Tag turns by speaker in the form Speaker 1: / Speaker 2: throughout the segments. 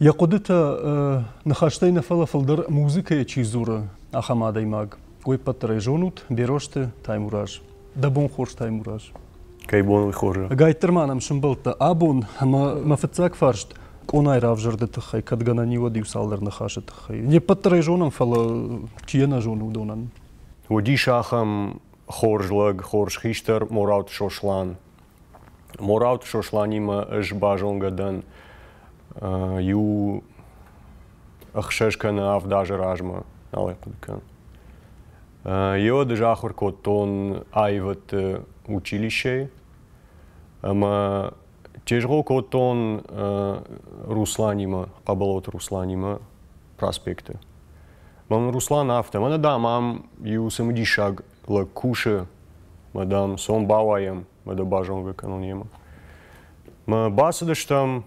Speaker 1: Йӕ хъуыдытӕ ныхӕстӕй нӕ фӕлӕ фылдӕр музыкӕйӕ чи дзуры, ахӕм адӕймаг. Уый ппӕтдӕр ӕй зонут, Берозты Таймураз. Дӕ бон хорз, Таймураз. Кӕй бон уый
Speaker 2: хорзы? Ӕгайтдӕр ма нӕм сымбӕлдтӕ
Speaker 1: абон, ӕмӕ мӕ фыццаг фарст, къонайы равзӕрды тыххӕй, кӕд гӕнӕн и, уӕд иу-цалдӕр ныхасы тыххӕй. Не ппӕтдӕр ӕй зонӕм, фӕлӕ чи йӕ нӕ зоны, уыдонӕн. Уыдис
Speaker 2: ахӕм хорз лӕг, хорз хистӕр Морауты Сослан. Мораут Сосланимӕ ӕз базонгӕ дӕн иу ӕхсӕз кӕнӕ авд азы размӕ, нал ӕй хъуыды кӕнын. Йод ӕз ахуыр кодтон аивӕдты училищейы ӕмӕ тезгъо кодтон Русланимӕ, Хъӕболоты Русланимӕ проспекты. Мӕн Руслан афтӕ, мӕнӕ дам ам иу цымыдисаг лӕг кусы, ма дам, сом бауайӕм, ма дӕ базонгӕ кӕнон йемӕ. Мы бацыдыстӕм,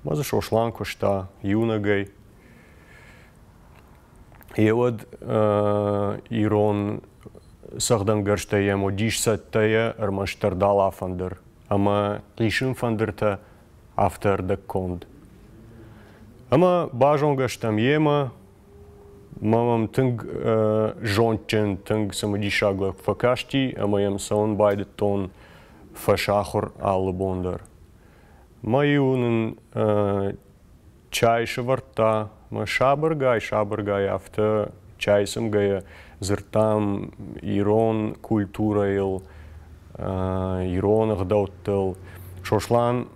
Speaker 2: ма дзы Сослан куыста иунӕгӕй. Йеуӕд э, ирон цӕгъдӕнгӕрзтӕ йӕм уыдис цӕттӕйӕ ӕрмӕстдӕр далафӕндыр ӕмӕ хъисын фӕндыртӕ афтӕ ӕрдӕгконд. Ӕмӕ базонгӕ стӕм йемӕ, Мамам тынг зондджын, тынг цымыдисаг лӕг фӕкасти ӕмӕ йӕм цӕуын байдыдтон фӕсахуыр алы бон дӕр. Мӕ-иу нын чай сывӕрдта, мӕ сабыргай-сабыргай афтӕ чай цымгӕйӕ дзырдтам ирон культурӕйыл, ирон ӕгъдӕуттыл. Сослан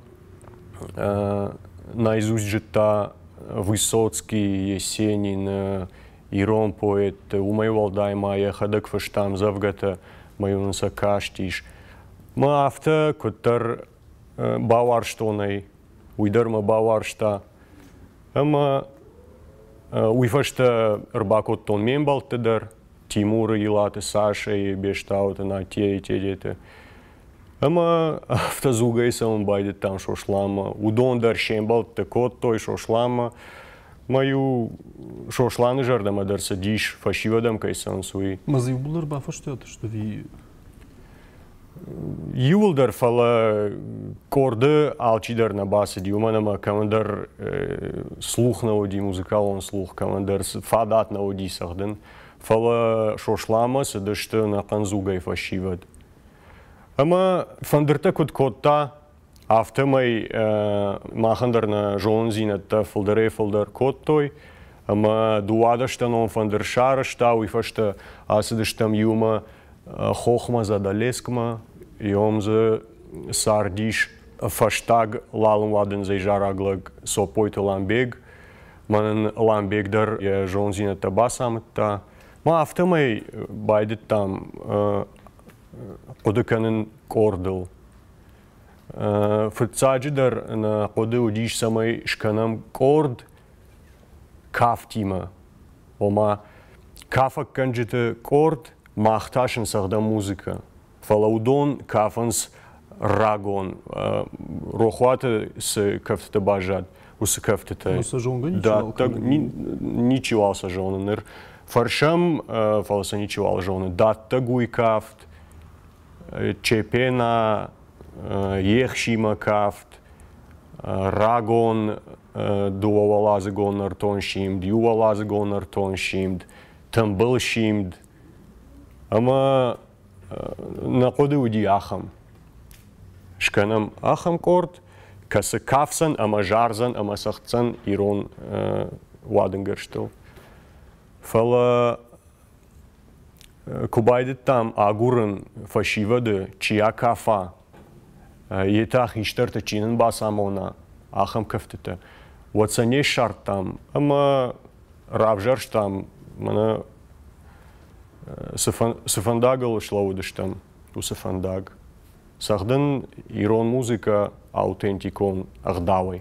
Speaker 2: наизусть зыдта Высоцкий, Есенин, ирон поэтты, уымӕй уӕлдай ма йӕхӕдӕг фыста ӕмдзӕвгӕтӕ, мӕй нын сӕ кастис. Мӕ афтӕ куыддӕр бауарзтон ӕй, уый дӕр мӕ бауарзта. Ӕмӕ уый фӕстӕ ӕрбакодтон ме мбӕлтты дӕр, Тимуры, Илаты Сашӕйы, Бестауты Натейы тедеты. Ӕмӕ автозугӕй цӕуын байдыдтам Сосланмӕ. Уыдон дӕр се мбӕлтты кодтой Сосланмӕ. Мӕ-иу Сосланы зӕрдӕмӕ дӕр цыдис, фӕсивӕдӕм кӕй цӕуынц, уый. Мӕ-дзы иууылдӕр бафӕстиат
Speaker 1: сты
Speaker 2: Иуылдӕр, фӕлӕ къорды алчидӕр нӕ бацыди, уымӕн ӕмӕ кӕмӕндӕр слух нӕ уыди, музыкалон слух, кӕмӕндӕр фадат нӕ уыди цӕгъдын. Фӕлӕ Сосланмӕ цыдысты ӕнӕхъӕн дзугӕй фӕсивӕд. Ӕмӕ фӕндыртӕ куыд кодта, афтӕмӕй махӕн дӕр нӕ зонындзинӕдтӕ фылдӕрӕй фылдӕр кодтой. Ӕмӕ дыууадӕстӕнон фӕндыр сарӕзта, уый фӕстӕ ацыдыстӕм иумӕ хохмӕ Задӕлескмӕ, ем дзы цардис фӕстаг лалын-уадындзӕй зарӕг лӕг Цопойты Ламбег, Мӕнӕн Ламбек дӕр йӕ зондзинӕдтӕ бацамыдта. Мӕ афтӕмӕй байдыдтам хъуыды кӕнын къордыл. Фыццаджыдӕр нӕ хъуыды уыдис, цӕмӕй скӕнӕм къорд кафтимӕ. Ома, кафӕггӕнджыты къорд мах та сынцӕгъдӕм музыкӕ. Фӕлӕ уыдон кафынц рагон рохуаты цы кӕфтытӕ баззад, уыцы кӕфтытӕ. Сӕ зонгӕ ничиуал
Speaker 1: кӕны.
Speaker 2: Ничиуал сӕ зоны. Ныр фӕрсӕм, фӕлӕ сӕ ничиуал зоны. Дӕттӕг уый кафт, Чепена, Ехсимӕ кафт, рагон дыууӕуӕладзыгон нӕртон симд, иуӕладзыгон нӕртон симд, тымбыл симд ӕмӕ Нӕ хъуыды уыди ахӕм. Скӕнӕм ахӕм къорд, кӕцы кафдзӕн ӕмӕ зардзӕн ӕмӕ цӕгъддзӕн ирон уадынгӕрзтыл. Фӕлӕ куы байдыдтам агурын фӕсивӕды, чи акафа, йе та хистӕрты чи нын бацамона, ахӕм кӕфтытӕ, уӕд сӕ не ссардтам ӕмӕ равзӕрстам мӕнӕ цы фӕндагыл слӕууыдыстӕм, уыцы фӕндаг. Цӕгъдын ирон музыкӕ аутентикон ӕгъдауӕй.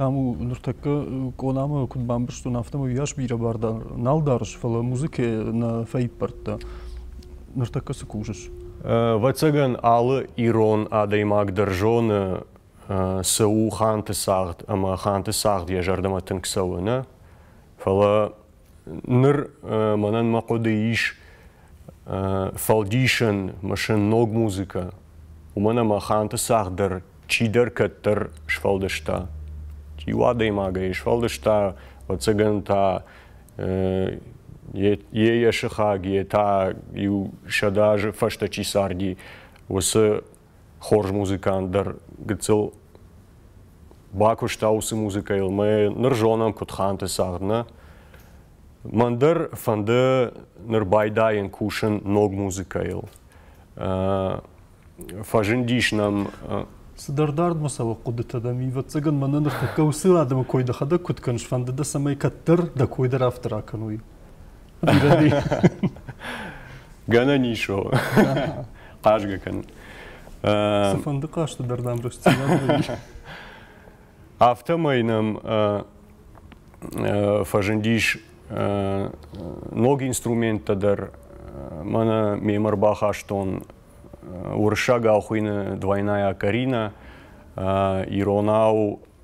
Speaker 1: Там у ныртӕккӕ къонамӕ куыд бамбӕрстон, афтӕмӕй уыйас бирӕ бар нал дарыс, фӕлӕ музыкӕ нӕ фӕиппӕрдта. Ныртӕккӕ цы кусыс? Ӕвӕццӕгӕн,
Speaker 2: алы ирон адӕймаг дӕр зоны, цы у ханты цагъд ӕмӕ ханты цагъд йӕ зӕрдӕмӕ тынг цӕуы, нӕ? Фӕлӕ Ныр мӕнӕн мӕ хъуыды ис фӕлдисӕн, ӕмӕ сын ног музыкӕ, уымӕн ӕмӕ Ханты цагъд дӕр чидӕр кӕддӕр сфӕлдыста. Чи у адӕймагӕй сфӕлдыста, ӕвӕццӕгӕн та йе йӕ сыхаг, йе та иу сӕдӕ азы фӕстӕ чи царди, уыцы хорз музыкант дӕр гыццыл бакуыста уыцы музыкӕйыл. Мы ныр зонӕм Куытханты цагъд нӕ. Мӕн дӕр фӕнды ныр байдайын кусын ног музыкӕйыл. Фӕзындис нӕм Цыдӕр
Speaker 1: дардмӕ цӕуӕг хъуыдытӕ дӕм, ӕвӕццӕгӕн мӕнӕ ныртӕккӕ уыцы адӕмы кой дӕхӕдӕг куыд кӕныс, фӕнды дӕ, цӕмӕй кӕддӕр дӕ кой дӕр афтӕ ракӕной?
Speaker 2: Гӕнӕн ис о. Хъазгӕ кӕн. Цыфӕнды
Speaker 1: хъазты дӕр дам рӕстдзинад Афтӕмӕй
Speaker 2: нӕм фӕзындис ног инструменттӕ дӕр. Мӕнӕ мемӕ ӕрбахастон уырыссаг ахуыйны двойная Карина, иронау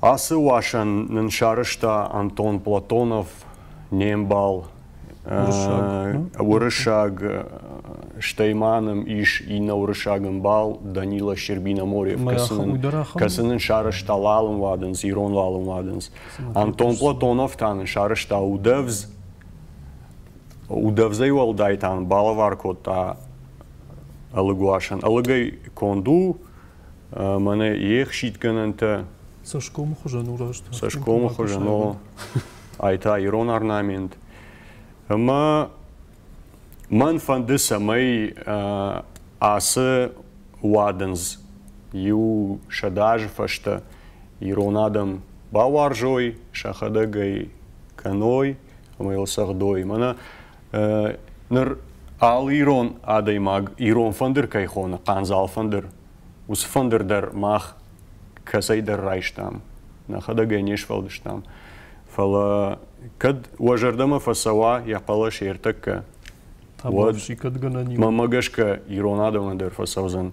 Speaker 2: Ацы уасӕн нын сарӕзта Антон Платонов, не мбал, уырыссаг, стӕй ма нӕм ис иннӕ уырыссаг ӕмбал Данила Щербиноморьев, кӕцы нын сарӕзта лалым уадындз, ирон лалым уадындз. Антон Платонов та нын сарӕзта удӕвдз. Удӕвзӕй уӕлдай та балӕвар кодта ӕлыгуасӕн. Ӕлыгӕй конд у, мӕнӕ йе хситгӕнӕнтӕ цӕсгомы
Speaker 1: хуызӕн урӕзт цӕсгомы хуызӕн о
Speaker 2: ай та ирон орнамент ӕмӕ мӕн фӕнды цӕмӕй ацы уадындз иу сӕдӕ азы фӕстӕ ирон адӕм бауарзой сӕхӕдӕг ӕй кӕной ӕмӕ йыл цӕгъдой мӕнӕ Ныр алы ирон адӕймаг ирон фӕндыр кӕй хоны, хъандзал фӕндыр, уыцы фӕндыр дӕр мах кӕцӕйдӕр райстам, нӕхӕдӕгӕй не сфӕлдыстам. Фӕлӕ кӕд уӕ зӕрдӕмӕ фӕцӕуа йӕ хъӕлӕс ӕртӕккӕ,
Speaker 1: уӕд мӕ гӕсгӕ ирон
Speaker 2: адӕмӕн дӕр фӕцӕудзӕн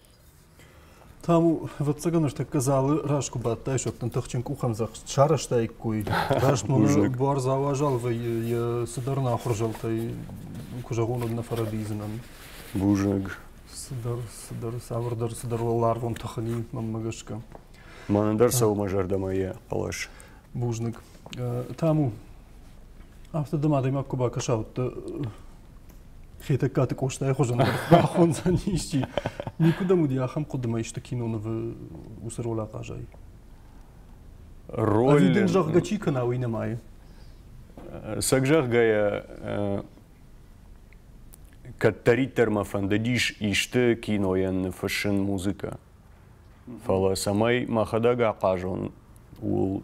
Speaker 1: Там ӕвӕццӕгӕн ӕртӕккӕ залы раз куы бадтай, сӕттын тыхджын къухӕмдзӕхст, сарӕзтаиккой размӕ нӕ буар зал уазал вӕййы йӕ цыдӕр нахуырзӕлтӕй, куы зӕгъон, уӕд нӕ фӕрӕдийдзынӕн. Бузӕг.
Speaker 2: Цыдӕр,
Speaker 1: цыдӕр, цавӕрдӕр цыдӕр уӕларвон тых ӕни мӕнмӕ гӕсгӕ. Мӕнӕн дӕр
Speaker 2: сӕумӕ зӕрдӕмӕ йӕ хъӕлӕс. Бузныг.
Speaker 1: Таму, афтӕ дӕм адӕймаг куы бакӕса, уӕд дӕ Хетӕгкаты Къостайы хуызӕн бахондзӕн исчи. Никуыдӕм уыди ахӕм хъуыдымӕ исты кинонывы уыцы роль ахъазӕй.
Speaker 2: Роль... Ӕви дын зӕгъгӕ чи кӕна, уый
Speaker 1: нымайы?
Speaker 2: Сӕг зӕгъгӕйӕ, кӕддӕриддӕр мӕ фӕндыдис исты кинойӕн ныффыссын музыкӕ. Фӕлӕ цӕмӕй мӕхӕдӕг ахъазон, ууыл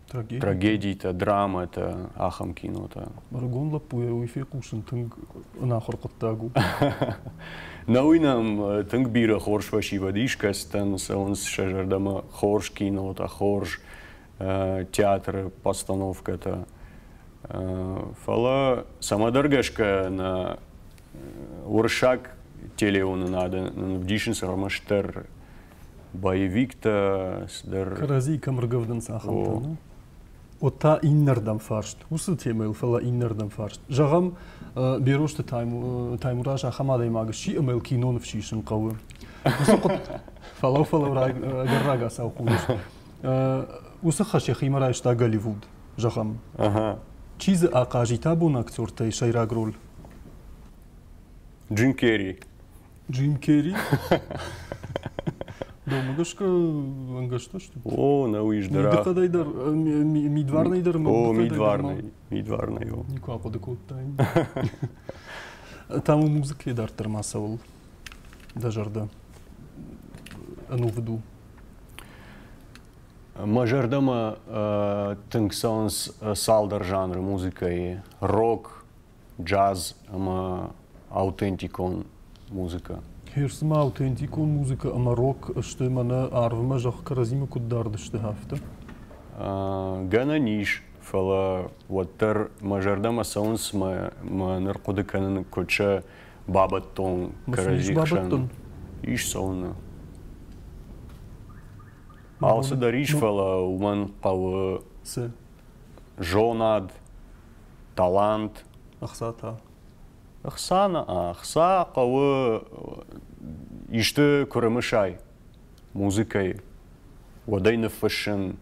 Speaker 2: трагедитӕ, трагедитӕ драмӕтӕ, ахӕм кинотӕ. Ӕрыгон лӕппуйӕ
Speaker 1: уый фехъусын тынг ӕнахуыр хъуыддаг у. Нӕ уый нӕм
Speaker 2: тынг бирӕ хорз фӕсивӕд искӕцытӕн цӕуынц сӕ зӕрдӕмӕ хорз кинотӕ, хорз театры постановкӕтӕ. Фӕлӕ цӕмӕдӕр гӕсгӕ нӕ уырыссаг телеуынынады нын вдисынц ӕрмӕстдӕр боевиктӕ цыдӕр кӕрӕдзийы кӕм ӕргӕвдынц
Speaker 1: ахӕмтӕ ну уӕд та иннӕрдӕм фарст уыцы темӕйыл фӕлӕ иннӕрдӕм фарст зӕгъӕм берозты таймураз ахӕм адӕймаг сси ӕмӕ йыл киноныв сисын хъӕуы уыцы хъуыд фӕлӕу фӕлӕу ӕгӕр рагацау хъусыс уыцы хӕс йӕхимӕ райста голливуд зӕгъӕм чи дзы ахъазита бон актертӕй сӕйраг роль
Speaker 2: джин керри Джим Керри?
Speaker 1: Домыгӕсгӕ ӕнгӕстӕ сты? О, нӕ уый здӕра.
Speaker 2: Мидыхъӕдӕй дӕр,
Speaker 1: мидварнӕй дӕр ӕмӕ О,
Speaker 2: мидварнӕй, мидварнӕй, о. Никуы ахъуыды
Speaker 1: кодтаин. Там у музыкӕйы дарддӕр ма цӕуыл дӕ зӕрдӕ ӕнувыд у?
Speaker 2: Мӕ зӕрдӕмӕ тынг цӕуынц цалдӕр жанры музыкӕйы. Рок, джаз ӕмӕ аутентикон музыкӕ. Херс ма
Speaker 1: аутентикон музыкӕ ӕмӕ рок сты мӕнӕ арвмӕ зӕгъ кӕрӕдзимӕ куыд дардысты афтӕ?
Speaker 2: Гӕнӕн ис, фӕлӕ уӕддӕр мӕ зӕрдӕмӕ цӕуынц мӕ ныр хъуыды кӕнын куыд сӕ бабӕттон кӕрӕдзи хсӕн. Ис цӕуыны. Алцыдӕр ис, фӕлӕ уымӕн хъӕуы зонад, талант ӕхца та
Speaker 1: ӕхца нӕ ӕхца
Speaker 2: хъӕуы исты куы рымысай музыкӕйы уӕд ӕй ныффыссын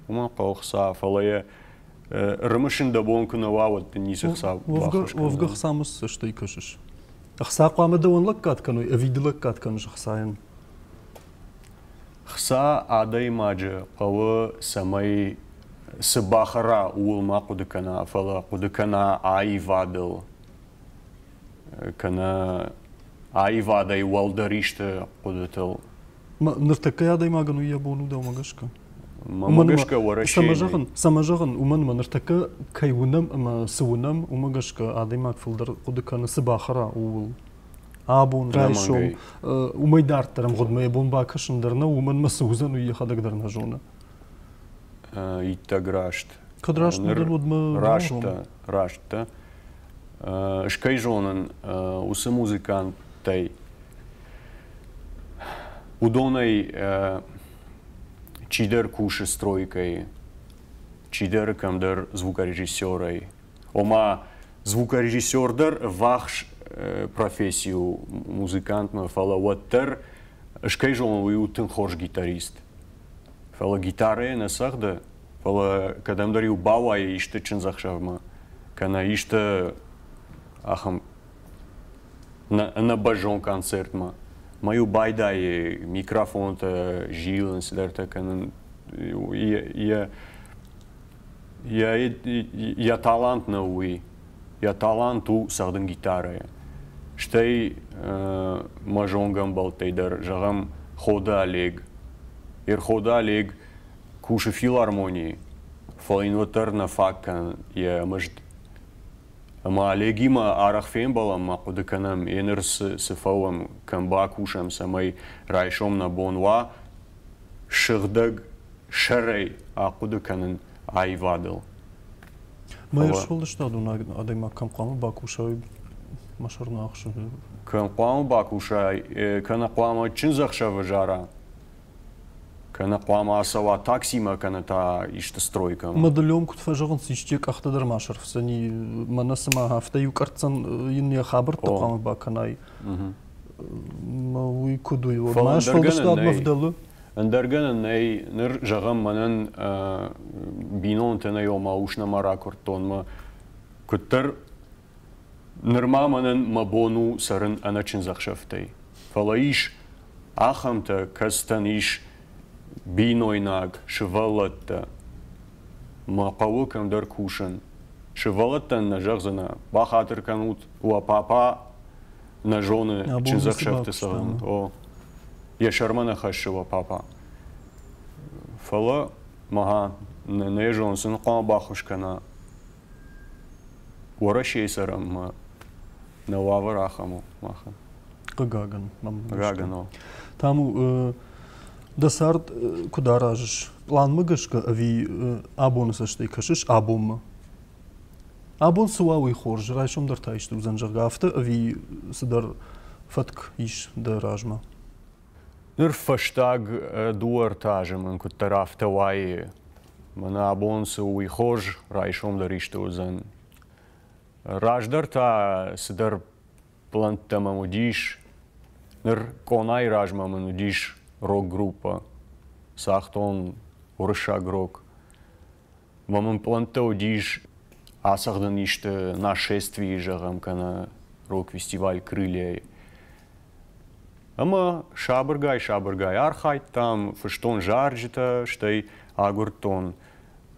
Speaker 2: уымӕ хъӕуы хца фӕлӕ йӕ рымысын дӕ бон куы нӕ уа уӕд дын ницы хца уӕвгӕ хца ма
Speaker 1: стӕй кӕсыс ӕхца хъуамӕ дӕуӕн лӕггад кӕной ӕви ды лӕггад кӕныс ӕхцайӕн
Speaker 2: Хца адӕймаджы хъӕуы, цӕмӕй цы бахӕра, ууыл ма хъуыды кӕна, фӕлӕ хъуыды кӕна аивадыл, кӕнӕ аивадӕй уӕлдӕр исты хъуыдытыл. Ныртӕккӕйы
Speaker 1: адӕймагӕн уый йӕ бон у дӕумӕ гӕсгӕ? Мӕ гӕсгӕ
Speaker 2: Уӕрӕсе. Цӕмӕ зӕгъын, цӕмӕ зӕгъын, уымӕн
Speaker 1: ӕмӕ ныртӕккӕ кӕй уынӕм ӕмӕ цы уынӕм, уымӕ гӕсгӕ адӕймаг фылдӕр хъуыды кӕны, цы бахӕра, ууыл. абон райсом уымӕй дарддӕр ӕмгъуыдмӕ йӕ бон бакӕсын дӕр нӕу, уымӕн мӕ цы уыдзӕн, уый йӕхӕдӕг дӕр нӕ зоны. Иттӕг
Speaker 2: раст. Кӕд раст уыдзӕн, уӕд
Speaker 1: мӕ раст дӕ, раст
Speaker 2: дӕ. Ӕз кӕй зонын, уыцы музыканттӕй уыдонӕй чидӕр кусы стройкӕйы, чидӕр кӕмдӕр звукорежиссерӕй, ома звукорежиссер дӕр вахс профессий у музыкантмӕ, фӕлӕ уӕддӕр скӕй зонын, уый у тынг хорз гитарист. Фӕлӕ гитарӕ нӕ цӕгъды, фӕлӕ кӕдӕмдӕр-иу бауайы исты чындзӕхсӕвмӕ, кӕнӕ исты ахӕм ӕнӕбӕззон концертмӕ. Мӕ-иу байдайы микрофонтӕ зилын, цыдӕртӕ кӕнын, йӕ йӕ талант нӕ у, йӕ талант у цӕгъдын гитарӕйӕ. Стӕй мӕ зонгӕмбӕлттӕй дӕр зӕгъӕм Ходы Олег. Ерходы Олег кусы филармонийы, фӕлӕ йын уӕддӕр нӕ фаг кӕны йӕ мызд. Ӕмӕ Олегимӕ арӕх фембӕлӕм ма хъуыды кӕнӕм, еныр цы фӕуӕм, кӕм бакусӕм, цӕмӕй райсом нӕ бон уа, сыгъдӕг сӕрӕй ахъуыды кӕнын аивадыл.
Speaker 1: Мӕ сфӕлдыстадон адӕймаг кӕм хъуамӕ бакусай мӕ сӕрны ӕхсӕвы? Кӕм хъуамӕ
Speaker 2: бакусай, кӕнӕ хъуамӕ чындзӕхсӕвы зара, кӕнӕ хъуамӕ ацӕуа таксимӕ, кӕнӕ та исты стройкӕ? Мадыллон куыд фӕзӕгъынц,
Speaker 1: исчи къӕхтӕ дӕр ма сӕрфдзӕни, мӕнӕ цыма афтӕ иу къӕрццӕн йын йӕ хабӕрттӕ хъуамӕ бакӕнай. уый куыд у мӕ сфӕлдыстадмӕ вдӕлы ӕндӕр
Speaker 2: гӕнӕн нӕй ныр зӕгъӕм мӕнӕн бинонтӕ нӕ ома ус нӕма ракуырдтон мӕ куыддӕр нырма мӕнӕн мӕ бон у цӕрын ӕнӕ чындзӕхсӕвтӕй фӕлӕ ис ахӕмтӕ кӕцытӕн ис бинойнаг сывӕллӕттӕ мӕ хъӕуы кӕмдӕр кусын сывӕллӕттӕн нӕ зӕгъдзынӕ бахатыр кӕнут уӕ папа нӕ зоны чындзӕхсӕвты цӕгъдын. О, йӕ сӕрмӕ нӕ хӕссы уӕ папа. Фӕлӕ, махӕ, нӕ зон, сын хъуамӕ баххуыс кӕна Уӕрӕсейы цӕрӕнмӕ нӕ уавӕр ахӕм у махӕн. Хъыгагӕн, мӕм Хъыгагӕн,
Speaker 1: о. Таму, дӕ цард куыд аразыс? Планмӕ гӕсгӕ ӕви абоны цӕстӕй кӕсыс абонмӕ? Абон цы уа, уый хорз, райсом дӕр та исты уыдзӕн, зӕгъгӕ, афтӕ ӕви цыдӕр фӕтк ис дӕ размӕ?
Speaker 2: Ныр фӕстаг дыууӕ-ӕртӕ азы мын куыддӕр афтӕ уайы, мӕнӕ абон цы у, уый хорз, райсом дӕр исты уыдзӕн. Раздӕр та цыдӕр плӕнттӕ мӕм уыдис. Ныр къонайы размӕ мын уыдис рок-группӕ. Цагътон уырыссаг рок. Уӕ мын пълӕнттӕ уыдис ацӕгъдын исты нашествие, зӕгъӕм, кӕнӕ рок-фестиваль Крылья-йы. Ӕмӕ сабыргай-сабыргай архайдтам, фыстон зарджытӕ, стӕй агуырдтон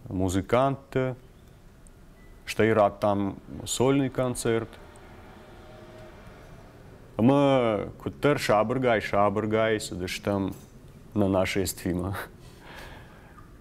Speaker 2: музыкантты, стӕй радтам сольный концерт. Ӕмӕ куыддӕр сабыргай-сабыргай цыдыстӕм на нашествимӕ.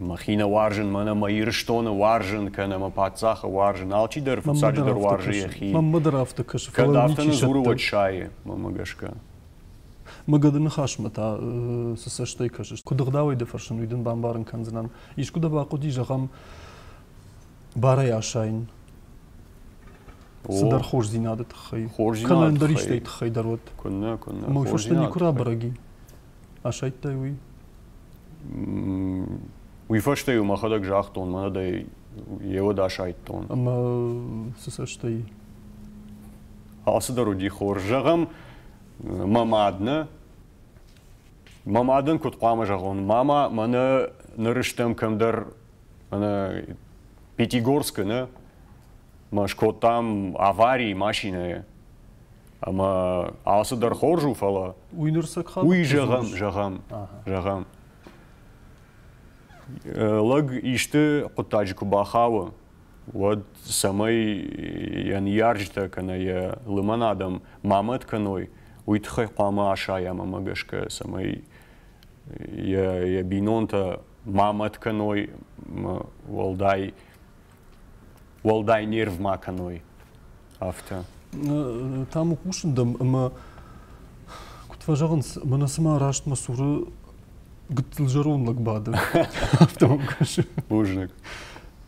Speaker 2: Мӕхи нӕ уарзын, мӕн ӕмӕ Ирыстоны уарзын, кӕнӕ мӕ паддзахы уарзын, алчидӕр фыццаджыдӕр уарзы йӕхи. Мӕн мыдыр афтӕ кӕсы,
Speaker 1: фӕлӕ Кӕд афтӕ нын дзуры,
Speaker 2: уӕд сайы, мӕнмӕ гӕсгӕ.
Speaker 1: Мыггады ныхасмӕ та цы цӕстӕй кӕсыс? Куыд ӕгъдауӕй дӕ фӕрсын, уый дын бамбарын кӕндзынӕн. Искуы дӕ бахъуыди, зӕгъӕм, барӕй асайын? Цыдӕр хорздзинады тыххӕй. Хорздзинады кӕнӕ ӕндӕр истӕй тыххӕй дӕр уӕд. Куыннӕ, куыннӕ. Мӕ
Speaker 2: фӕрстӕ никуы
Speaker 1: рабӕрӕг и. асайдтай уый?
Speaker 2: Уый фӕстӕ-иу мӕхӕдӕг загътон, мӕнӕ дӕ йе уӕд асайдтон. Ӕмӕ
Speaker 1: цы цӕстӕй? Алцыдӕр
Speaker 2: уыди хорз. Зӕгъӕм, мӕ мад нӕ. Мӕ мадӕн куыд хъуамӕ зӕгъон? Мама, мӕнӕ ныр стӕм кӕмдӕр мӕнӕ Пятигорскы, нӕ? Мӕ скодтам аварийы машинӕйӕ. ӕмӕ ацы дӕр хорз у, фӕлӕ уый ныр цы уый
Speaker 1: зӕгъӕм, зӕгъӕм,
Speaker 2: зӕгъӕм. Лӕг исты хъуыддаджы куы бахауы, уӕд цӕмӕй йӕ ныййарджытӕ кӕнӕ йӕ лымӕн адӕм ма мӕт кӕной, уый тыххӕй хъуамӕ асайӕм ӕмӕ гӕсгӕ, цӕмӕй йӕ, йӕ бинонтӕ ма мӕт кӕной, уӕлдай уӕлдай нерв ма кӕной, афтӕ.
Speaker 1: Та мӕ хъусын дӕм ӕмӕ куыд фӕзӕгъынц, мӕнӕ цыма раст мӕ цуры гыццыл зӕронд лӕг бады. Афтӕ мӕм кӕсы. Бузныг.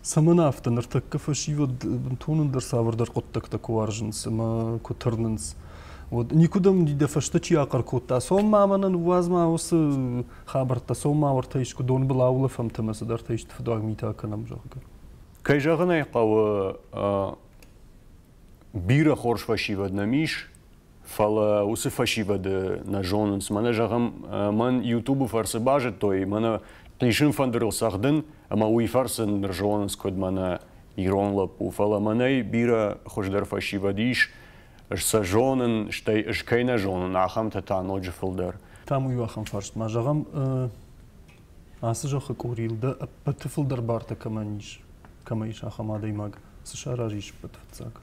Speaker 2: Цӕмӕн
Speaker 1: афтӕ ныртӕккӕ фӕсивӕд бынтон ӕндӕр цавӕрдӕр хъуыддӕгтӕ куы уарзынц ӕмӕ куы тырнынц. Уӕд никуыдӕм дӕ фӕстӕ чи ахъӕр кодта, цом ма мӕнӕ ныууадз ма уыцы Хабӕрттӕ сомма уартӕ искуы донбыл аулӕфӕмт ӕмӕ цыдӕртӕ исты фыдуаг митӕ кӕнӕм, зӕгъгӕ. Кӕй зӕгъын ӕй
Speaker 2: хъӕуы, бирӕ хорз фӕсивӕд нӕм ис, фӕлӕ уыцы фӕсивӕды нӕ зонынц. Мӕнӕ зӕгъӕм, мӕн Ютубы фӕрцы базыдтой, мӕнӕ хъисын фӕндырыл цӕгъдын, ӕмӕ уый фӕрцы ныр зонынц куыд мӕнӕ ирон лӕппу. Фӕлӕ мӕнӕй бирӕ хуыздӕр фӕсивӕд ис, сӕ зонын, стӕй ӕз кӕй нӕ зонын, ахӕмтӕ та ноджы фылдӕр. Там у иу ахӕм фарст.
Speaker 1: Ма зӕгъӕм, ацы зӕххы къорийыл дӕ ӕппӕты фылдӕр бартӕ кӕмӕн ис, кӕмӕ ис ахӕм адӕймаг, цы саразы ӕппӕты фыццаг?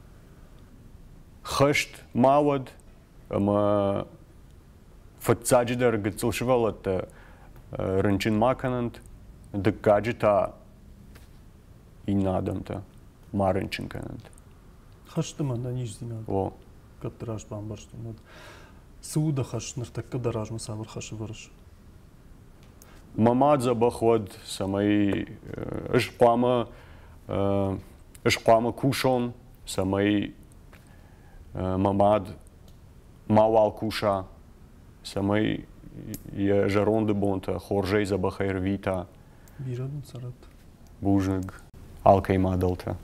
Speaker 2: Хӕст ма уӕд, ӕмӕ фыццаджыдӕр гыццыл сывӕллӕттӕ рынчын ма кӕнӕнт, дыккаджы та иннӕ адӕмтӕ ма рынчын кӕнӕнт. хӕсты
Speaker 1: мӕн ӕниздзинад о кӕддӕр
Speaker 2: аз
Speaker 1: бамбӕрстон уӕд цы у дӕ хӕс ныртӕккӕ дӕ размӕ цавӕр хӕсы вӕрыс мӕ ма
Speaker 2: дзӕбӕх уӕд цӕмӕй ӕз хъуамӕ ӕз хъуамӕ кусон цӕмӕй мӕ мад мауал куса цӕмӕй йӕ зӕронды бонтӕ хорзӕй дзӕбӕхӕй рвита бирӕ дын цӕрӕд
Speaker 1: Бузныг
Speaker 2: алкӕй мадӕлтӕ.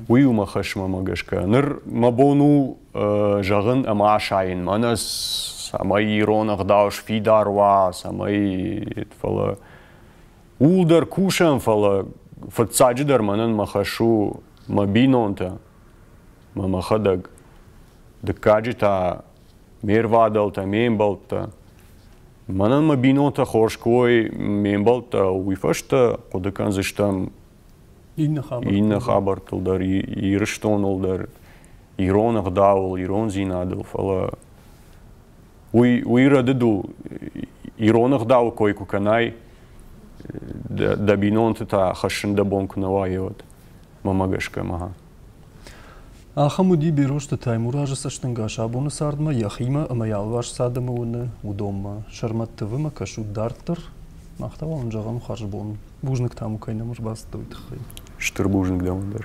Speaker 1: Уый у мӕ хӕсмӕмӕ
Speaker 2: гӕсгӕ. Ныр мӕ бон у зӕгъын ӕмӕ асайын мӕнӕ цӕмӕй ирон ӕгъдау сфидар уа, цӕмӕй фӕлӕ ууыл дӕр кусӕм, фӕлӕ фыццаджы дӕр мӕнӕн мӕ хӕс у мӕ бинонтӕ, мӕ мӕхӕдӕг. Дыккаджы та ме рвадӕлтӕ, ме мбӕлттӕ. Мӕнӕн мӕ бинонтӕ хорз кой ме мбӕлттӕ, уый фӕстӕ хъуыды кӕндзыстӕм иннӕ хабӕрттыл, иннӕ хабӕрттыл дӕр, Ирыстоныл дӕр, ирон ӕгъдауыл, ирондзинадыл, фӕлӕ уый, уый рӕдыд у. Ирон ӕгъдауы кой куы кӕнай, дӕ, дӕ бинонты та хӕссын дӕ бон куы нӕ уайа, уӕд, мӕмӕ гӕсгӕ мӕ.
Speaker 1: Ахӕм уыди Берозты Таймуразы цӕстӕнгас абоны цардмӕ йӕхимӕ ӕмӕ йӕ алварс цы адӕмы уыны, уыдонмӕ. Сӕрмӕт тывымӕ кӕсут дарддӕр? Мах та уал ын зӕгъӕм хӕрзбон. Бузныг та мыл кӕй нӕм
Speaker 2: ӕрбацыдтӕ,
Speaker 1: уый тыххӕй. Стыр
Speaker 2: бузныг
Speaker 1: дӕм дӕр.